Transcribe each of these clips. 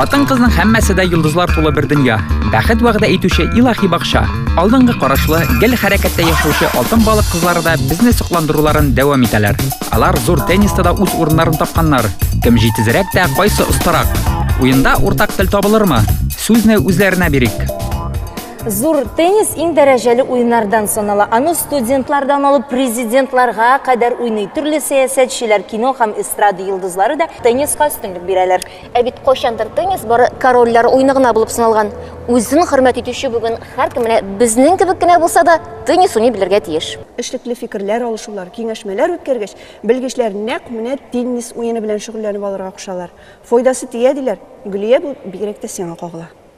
Хатын кызның һәммәсе дә йолдызлар тулы бер дөнья. Бәхет вәгъдә итүче илаһи бакча. Алдынгы карашлы, гел хәрәкәттә яшәүче алтын балык кызлары да безне сокландыруларын дәвам итәләр. Алар зур тенниста да үз урыннарын тапканнар. Кем җитезрәк тә, кайсы остарак? Уенда уртак тел табылырмы? Сүзне үзләренә бирик. Зур теннис иң дәрәҗәле уеннардан санала. Аны студентлардан алып президентларга кадәр уйный. Төрле сәясәтчеләр, кино һәм эстрада йолдызлары да тенниска өстенлек бирәләр. Ә бит кайчандыр теннис бары корольләр уены гына булып саналган. Үзен хөрмәт итүче бүген һәркем менә безнең кебек кенә булса да теннис уйный белергә тиеш. Эшлекле фикерләр алышулар, киңәшмәләр үткәргәч, белгечләр нәкъ менә теннис уены белән шөгыльләнеп алырга кушалар. Файдасы тия, диләр. Гөлия, бу бигрәк тә сиңа кагыла.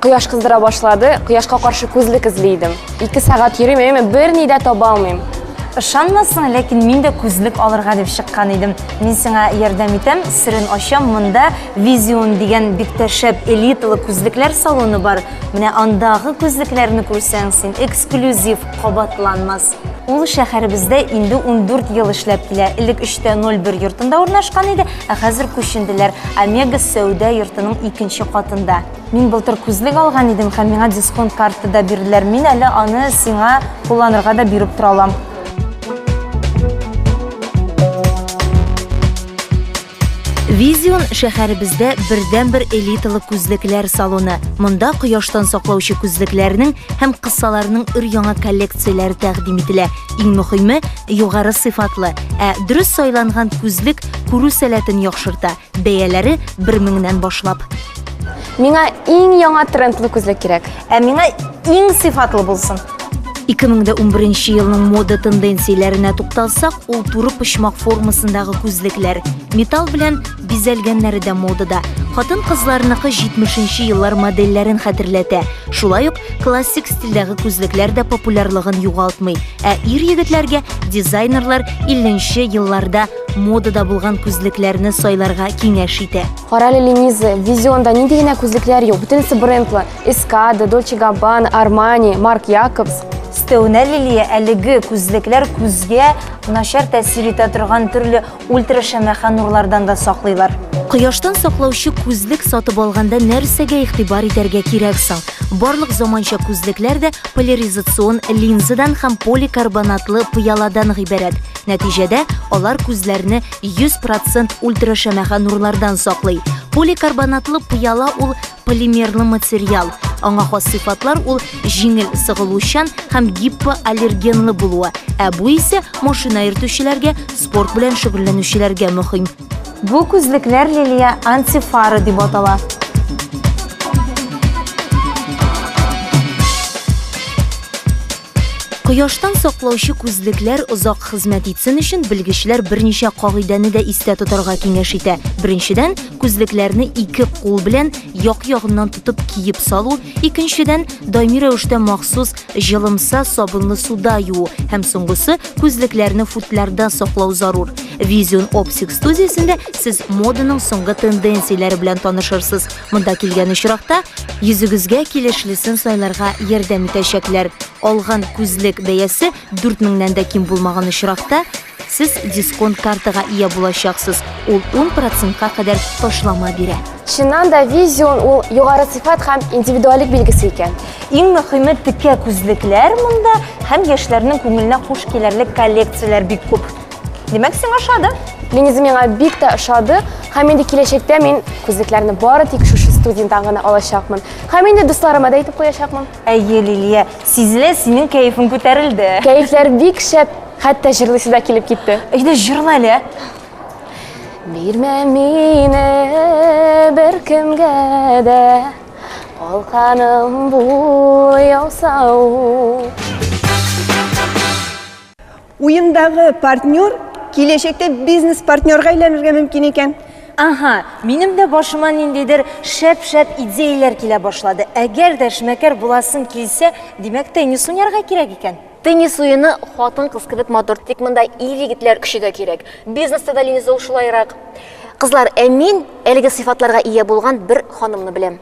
Кояш кыздыра башлады, кояшка каршы күзлек эзли идем. Ике сәгать йөрим, әмма берни дә таба алмыйм. Ышанмасын, ләкин мин дә күзлек алырга дип чыккан идем. Мин сиңа ярдәм итәм, серен ачам, монда Vision дигән бик тә шәп элиталы күзлекләр салоны бар. Менә андагы күзлекләрне күрсәң, син эксклюзив кабатланмас. Ул шәһәребездә инде 14 ел эшләп килә. Элек 3.01 йортында урнашкан иде, ә хәзер күченделәр. Омега сәүдә йортының икенче катында. Мин былтыр күзлек алган идем һәм миңа дисконт карты да бирделәр. Мин әле аны сиңа кулланырга да биреп тора алам. Визион шәһәребездә бердәнбер элиталы күзлекләр салоны. Монда кояштан саклаучы күзлекләрнең һәм кысаларның өр-яңа коллекцияләре тәкъдим ителә. Иң мөһиме, югары сыйфатлы, ә дөрес сайланган күзлек күрү сәләтен яхшырта, Бәяләре бер меңнән башлап. Миңа иң яңа трендлы күзлек кирәк. Ә миңа иң сыйфатлы булсын. 2011 елның мода тенденцияләренә тукталсак, ул туры почмак формасындагы күзлекләр. Металл белән бизәлгәннәре дә модада. Хатын кызларныкы 70 еллар модельләрен хәтерләтә. Шулай ук классик стильдәге күзлекләр дә популярлыгын югалтмый. Ә ир егетләргә дизайнерлар 50 елларда модада булган күзлекләрне сайларга киңәш итә. Карале Лениза, Визионда нинди генә күзлекләр юк, бөтенесе брендлы. Эскада, Дольче Габбан, Армани, Марк Якобс. Өстәвенә Лилия әлеге күзлекләр күзгә начар тәэсир итә торган төрле ультрашәмәхә нурлардан да саклыйлар. Кояштан саклаучы күзлек сатып алганда нәрсәгә игътибар итәргә кирәк соң? Барлык заманча күзлекләр дә поляризацион линзадан һәм поликарбонатлы пыяладан гыйбарәт. Нәтиҗәдә алар күзләрне 100% ультрашәмәхә нурлардан саклый. Поликарбонатлы пыяла ул полимерлы материал. Аңа хас сыйфатлар ул җиңел сыгылучан һәм гипоаллергенлы булуы, ә бу исә машина йөртүчеләргә, спорт белән шөгыльләнүчеләргә мөһим. Бу күзлекләр Лилия антифары дип атала. Кояштан саклаучы күзлекләр озак хезмәт итсен өчен белгечләр берничә кагыйдәне дә истә тотарга киңәш итә. Беренчедән, күзлекләрне ике кул белән як ягыннан тотып киеп салу, икенчедән, даими рәвештә махсус җылымса сабынлы суда юу һәм соңгысы, күзлекләрне футлярда саклау зарур. Vision Optics студиясендә сез моданың соңгы тенденцияләре белән танышырсыз. Монда килгән очракта йөзегезгә килешлесен сайларга ярдәм итәчәкләр. Алган күзлек бәясе 4000 нән дә ким булмаган очракта, сез дисконт картага ия булачаксыз. Ул 10 процентка кадәр ташлама бирә. Чыннан да визион ул югары сыйфат һәм индивидуалик билгесе икән. Иң мөхиме текә күзлекләр монда һәм яшьләрнең күңеленә хуш килерлек коллекцияләр бик күп. Димәк, сиңа ошады. Линиза миңа бик тә ошады. Һәм инде киләчәктә мин күзлекләрне бары тик шушы студенттан гына алачакмын. Һәм инде дусларыма да әйтеп куячакмын. Әйе, Лилия, сизелә, синең кәефең күтәрелде. Кәефләр бик шәп, хәтта җырлыйсы да килеп китте. Әйдә, җырла әле. Бирмә мине беркемгә дә, калканым бул яусау. Уендагы партнер киләчәктә бизнес-партнерга әйләнергә мөмкин икән. Ага, минем дә башыма ниндидер шәп-шәп идеяләр килә башлады. Әгәр дә эшмәкәр буласым килсә, димәк, теннис уйнарга кирәк икән. Теннис уены хатын-кыз кебек матур, тик монда ир-егетләр көче дә кирәк. Бизнеста да Ленизол шулайрак. Кызлар, ә мин әлеге сыйфатларга ия булган бер ханымны беләм.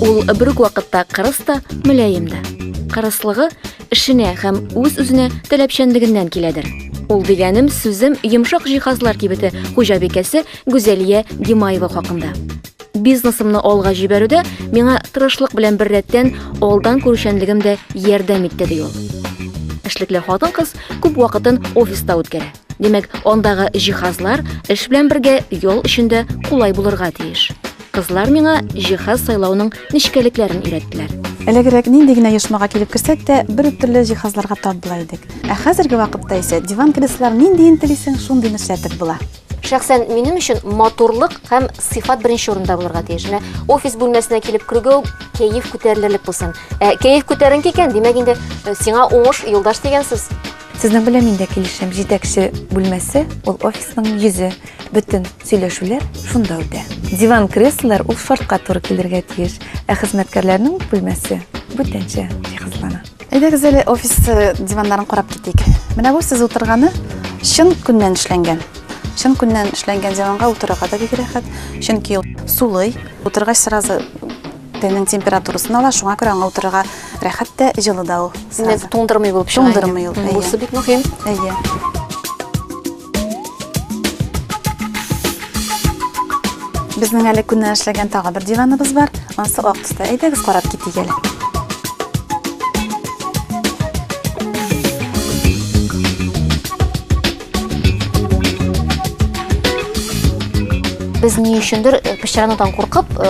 Ул бер үк вакытта кырыс та, мөлаем да. Кырыслыгы эшенә һәм үз-үзенә таләпчәнлегеннән киләдер. Ул дигәнем сүзем йомшак җиһазлар кибете хуҗабикәсе Гүзәлия Гимаева хакында. Бизнесымны алга җибәрүдә миңа тырышлык белән бер рәттән алдан күрүчәнлегем дә ярдәм итте, ди ул. Эшлекле хатын-кыз күп вакытын офиста үткәрә. Димәк, андагы җиһазлар эш белән бергә ял өчен дә кулай булырга тиеш. Кызлар миңа җиһаз сайлауның нечкәлекләрен өйрәттеләр. Элегрәк нинди генә оешмага килеп керсәк тә, бер үк төрле җиһазларга тап була идек. Ә хәзерге вакытта исә диван-креслолар ниндиен телисең, шундыйны эшләтеп була. Шәхсән минем өчен матурлык һәм сыйфат беренче урында булырга тиеш. Менә офис бүлмәсенә килеп кергә үк кәеф күтәрелерлек булсын. Ә кәеф күтәренке икән, димәк инде сиңа уңыш, юлдаш дигән сүз. Сезнең белән мин дә килешәм. Җитәкче бүлмәсе ул офисның йөзе. Бөтен сөйләшүләр шунда үтә. Диван креслолар ул шартка туры килергә тиеш. Ә хезмәткәрләрнең бүлмәсе бүтәнчә җиһазлана. Әйдәгез әле офис э, диваннарын карап китик. Менә бу сез утырганы чын күннән эшләнгән. Чын күннән эшләнгән диванга утырырга да бик рәхәт, чөнки ул сулый, утыргач сразу Тәннең температурасын ала, шуңа күрә аңа утырырга рәхәт тә, җылы да ул. Димәк, туңдырмый булып чыга. Туңдырмый ул. Бусы бик мөһим. Әйе. Безнең әле күннән эшләгән тагы бер диваныбыз бар. Ансы ак төстә. Әйдәгез карап китик әле. Без ни өчендер э, пычранадан куркып, э,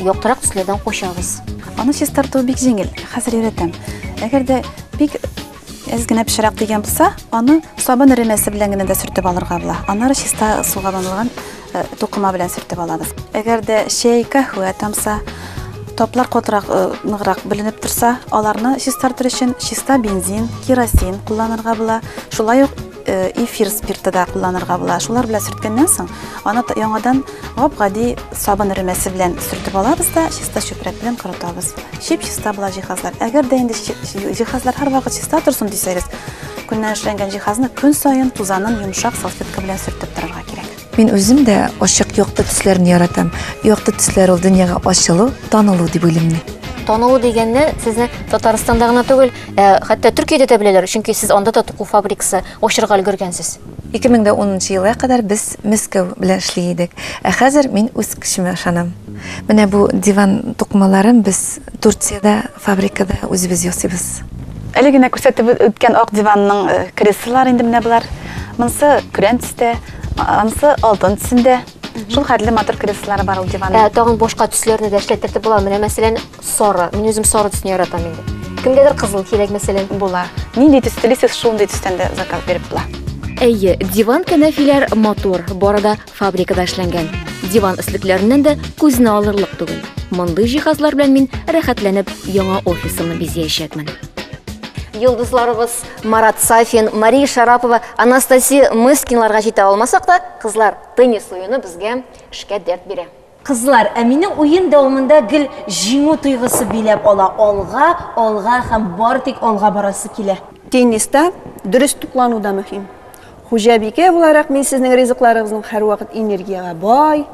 яктырак төсләрдән качабыз. Аны чистарту бик җиңел, хәзер өйрәтәм. Әгәр дә бик әз генә пешерәк дигән булса, аны сабын эремәсе белән генә дә сөртеп алырга була. Аннары чиста суга банылган тукыма белән сөртеп алабыз. Әгәр дә чәй, каһвә тамса, топлар катырак э, ныграк беленеп торса, аларны чистартыр өчен чиста бензин, керосин кулланырга була. Шулай ук э, эфир спирты да кулланырга була. Шулар белән сөрткәннән соң, аны яңадан гап-гади сабын ремәсе белән сөртеп алабыз да, чиста чүпрәк белән корытабыз. Чип чиста була җиһазлар. Әгәр дә инде җиһазлар һәрвакыт чиста торсын дисәгез, көннән эшләнгән җиһазны көн саен тузанын йомшак салфетка белән сөртеп торырга кирәк. Мин үзем дә ачык якты төсләрне яратам. Якты төсләр ул дөньяга ачылу, танылу дип уйлыйм мин. Танылу дигәнне сезне Татарстанда гына түгел, ә, хәтта Төркиядә дә беләләр, чөнки сез анда да туку фабрикасы ачырга өлгергәнсез. 2010 елга кадәр без Мәскәү белән эшли идек, ә хәзер мин үз көчемә ышанам. Менә бу диван тукмаларын без Турциядә, фабрикада үзебез ясыйбыз. Әле генә күрсәтеп үткән ак диванның креслолары инде менә болар. Монысы көрән төстә, анысы алтын төсендә. Шул хәтле матур креслолары бар ул диванның. Ә тагын башка төсләрне дә эшләттереп була. Менә, мәсәлән, сары. Мин үзем сары төсне яратам инде. Кемгәдер кызыл кирәк, мәсәлән. Була. Нинди төс телисез, шундый төстән дә заказ биреп була. Әйе, диван-кәнәфиләр матур, бары да Фабрикада эшләнгән диван өслекләреннән дә күзне алырлык түгел. Мондый җиһазлар белән мин рәхәтләнеп яңа офисымны бизиячәкмен. Йолдызларыбыз Марат Сафин, Мария Шарапова, Анастасия Мыскинларга җитә алмасак та, кызлар теннис уены безгә эшкә дәрт бирә. Кызлар, ә мине уен дәвамында гел җиңү тойгысы биләп ала, алга, алга һәм бары тик алга барасы килә. Тенниста дөрес туклану да мөһим. Хуҗабикә буларак мин сезнең ризыкларыгызның һәрвакыт энергиягә бай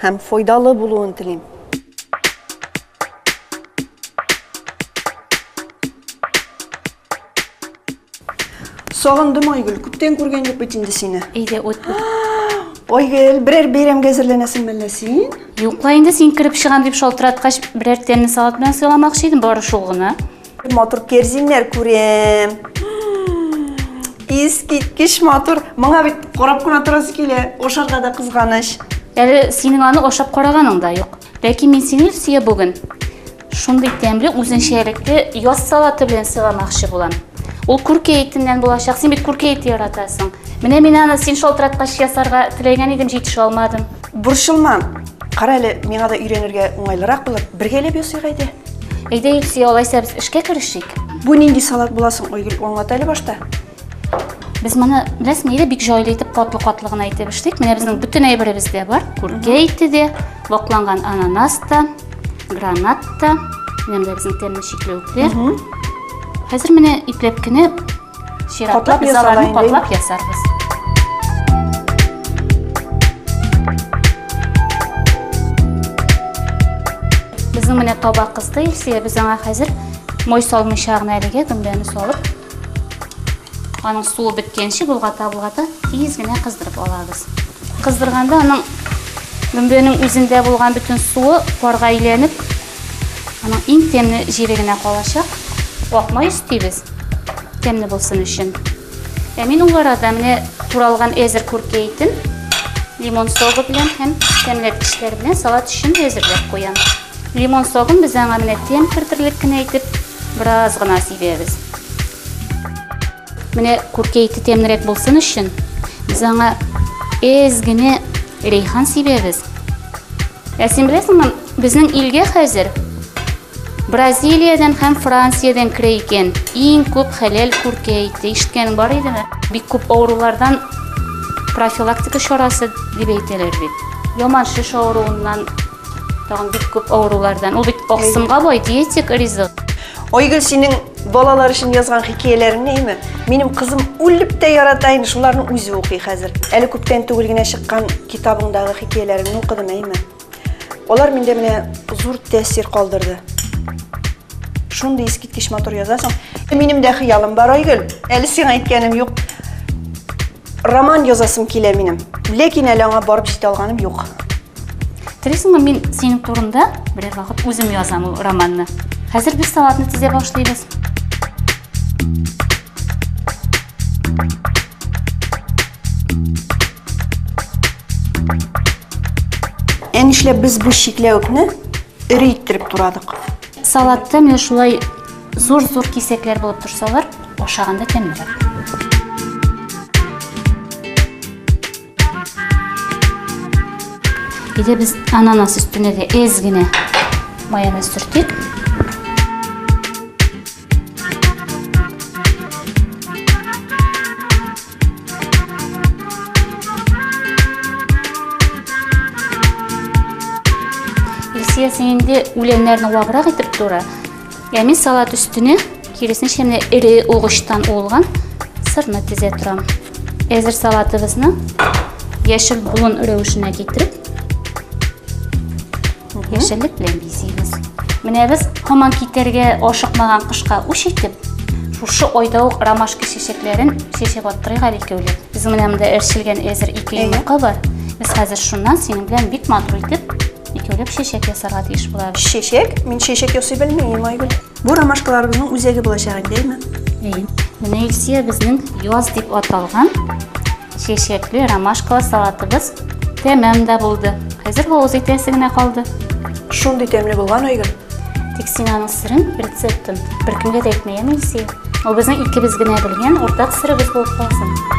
һәм файдалы булуын телим. Сагындым, Айгөл. Күптән күргән юк бит инде сине. Әйдә, ут бу. Айгөл, берәр бәйрәмгә әзерләнәсең мәллә син? Юк ла инде син кереп чыгам дип шалтыраткач, берәр тәмле салат белән сыйламакчы идем, бары шул гына. Матур керзиннәр күрәм. Искиткеч матур. Моңа бит карап кына торасы килә. Ашарга да кызганыч. Әле синең аны ашап караганың да юк. Ләкин мин сине, Өлсия, бүген шундый тәмле үзенчәлекле яз салаты белән сыйламакчы булам. Ул күркә итеннән булачак. Син бит күркә ите яратасың. Менә мин аны син шалтыраткач ясарга теләгән идем, җитешә алмадым. Борчылма. Кара әле, миңа да өйрәнергә уңайлырак булыр. Бергәләп ясыйк әйдә. Әйдә, Илсия, алайса без эшкә керешик. Бу нинди салат буласын, Айгөл, аңлат әле башта. Без моны, беләсең, нидә бик җайлы итеп катлы-катлы гына итеп эшлик. Менә безнең бөтен әйберебез дә бар. Күркә ите дә, вакланган ананас та, гранат та, менә дә безнең тәмле чикләвекләр. Хәзер менә ипләп кенә чиратлап без аларны катлап ясарбыз. Безнең менә таба кызды Илсия, без аңа хәзер мой салмыйча гына әлегә гөмбәне салып Аның суы беткәнче болгата-болгата тиз генә кыздырып алабыз. Кыздырганда аның гөмбәнең үзендә булган бөтен суы парга әйләнеп, аның иң тәмле җире генә калачак. Акмай өстибез, тәмле булсын өчен. Ә мин ул арада менә туралган әзер күркә итен лимон согы белән һәм тәмләткечләр белән салат өчен әзерләп куям. Лимон согын без аңа менә тәм кертерлек кенә итеп бераз гына сибәбез. Менә күркә ите тәмнерәк булсын өчен без аңа әз генә рейхан сибәбез. Ә син беләсеңме, безнең илгә хәзер Бразилиядән һәм Франциядән керә икән. Иң күп хәләл күркә ите. Ишеткәнең бар идеме? Бик күп авырулардан профилактика чарасы дип әйтәләр бит. Яман шеш авыруыннан Тагын бик күп авырулардан. Ул бит аксымга бай диетик ризык. Айгөл синең балалар өчен язган хикәяләреңне әйме. Минем кызым үлеп тә ярата инде, шуларны үзе укый хәзер. Әле күптән түгел генә чыккан китабыңдагы хикәяләреңне укыдым әйме. Алар миндә менә зур тәэсир калдырды. Шундый искиткеч матур язасың. Минем дә хыялым бар, Айгөл. Әле сиңа әйткәнем юк. Роман язасым килә минем. Ләкин әле аңа барып җитә алганым юк. Телисеңме, мин синең турында берәр вакыт үзем язам ул романны. Хәзер без салатны тизә башлыйбыз. Ә нишләп без бу чикләвекне Эре иттереп турадык. Салатта менә шулай зур-зур кисәкләр булып торсалар, ашаганда тәмлерәк. Иде без ананас өстенә дә эз генә майонез сөртик. Илсия, син инде үләннәрне ваграк итеп тура. Ә мин салат өстенә киресенчә менә эре угычтан уылган сырны тезә торам. Әзер салатыбызны яшел болын рәвешенә китереп яшеллек белән бизибез. Менә без һаман китәргә ашыкмаган кышка үч итеп, шушы айда ук ромашка чәчәкләрен чәчәп аттырыйк әле икәүләп. Без менә монда эшелгән әзер ике йомырка бар. Без хәзер шуннан синең белән бик матур итеп икәүләп чәчәк ясарга тиеш булабыз. Чәчәк? Мин чәчәк ясый белмим, Айгөл. Бу ромашкаларыбызның үзәге булачак, әйдәме? Әйе. Менә Илсия безнең яз дип аталган Чәчәкле ромашкалы салатыбыз тәмам да булды. Хәзер һавыз итәсе генә калды. Шундый тәмле булган Айгөл. Тик син аның сырын, рецептын беркемгә дә әйтмә, яме Илсөя. Ул безнең икебез генә белгән уртак сырыбыз булып калсын.